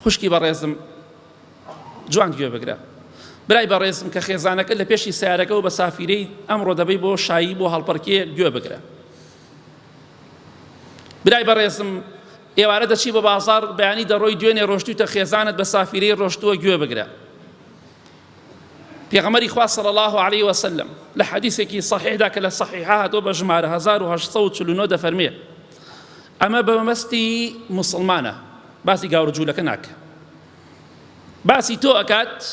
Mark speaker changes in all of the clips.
Speaker 1: خوشکی بەڕێزم جوان گوێ بگرە. برای بەڕێزم کە خێزانەکەت لە پێشی سەیارەکەوە بە سافیرەی ئەمڕۆ دەبەی بۆ شایی بۆ هەڵپەرکێ گوێ بگرە. برای بەڕێزم ئێوارە دەچی بە بازار بەیانی دەڕۆی دوێنێ ڕۆشتوتە خێزانت بە سافیرەی ڕۆشتووە گوێ بگرە. پێغەمبەری خوا صلی الله علیه و سلم لە حەدیثێکی صحیحدا کە لە صحیحە هاتۆ بە ژمارە 1849 دەفەرمێ ئەمە بە مەستی مسلمانە باسی گاورە جوولەکە ناکە باسی تۆ ئەکات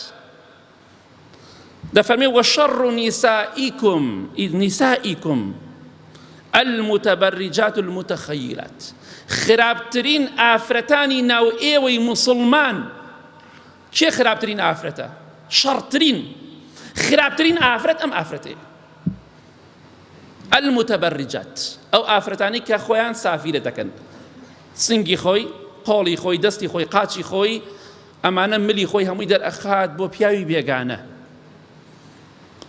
Speaker 1: دەفەرمێ وەشەڕ نیسائیکم ئید نیسائیکم المتبرجات المتخیلات خراپترین ئافرەتانی ناو ئێوەی مسلمان کێ خراپترین ئافرەتە شەڕترین خراپترین ئافرەت ئەم ئافرەتەیە المتبرجات ئەو ئافرەتانی کە خۆیان سافیرە دەکەن سنگی خۆی قۆڵی خۆی دەستی خۆی قاچی خۆی ئەمانە ملی خۆی هەمووی دەرئەخات بۆ پیاوی بێگانە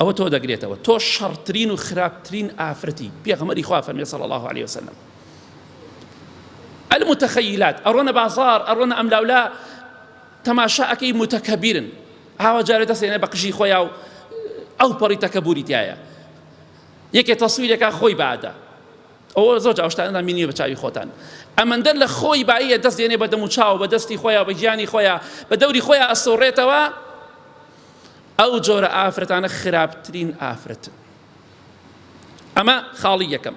Speaker 1: ئەوە تۆ دەگرێتەوە تۆ شەڕترین و خراپترین ئافرەتی پێغەمەری خوا فەرمی صلی الله عليه وسلم المتخیلات ئەڕۆنە بازار ئەڕۆنە ئەملاولا تەماشا ئەکەی موتەکەبیرن ئاوا جارێ دەسێنێ بە قژی خۆیا و ئەو پەڕی تەکەبوری تایە یەکێ تەسویرێکا خۆی بادە ئەوە زۆر جاوشتاندا مینی بە چاوی خۆتان ئەمەندەر لە خۆی باییە دەست دێنێ بە دەم و چاو بە دەستی خۆیان بە گیانی خۆیان بە دەوری خۆیان ئەسۆڕێتەوە ئەو جۆرە ئافرەتانە خراپترین ئافرەتن ئەمە خاڵی یەکەم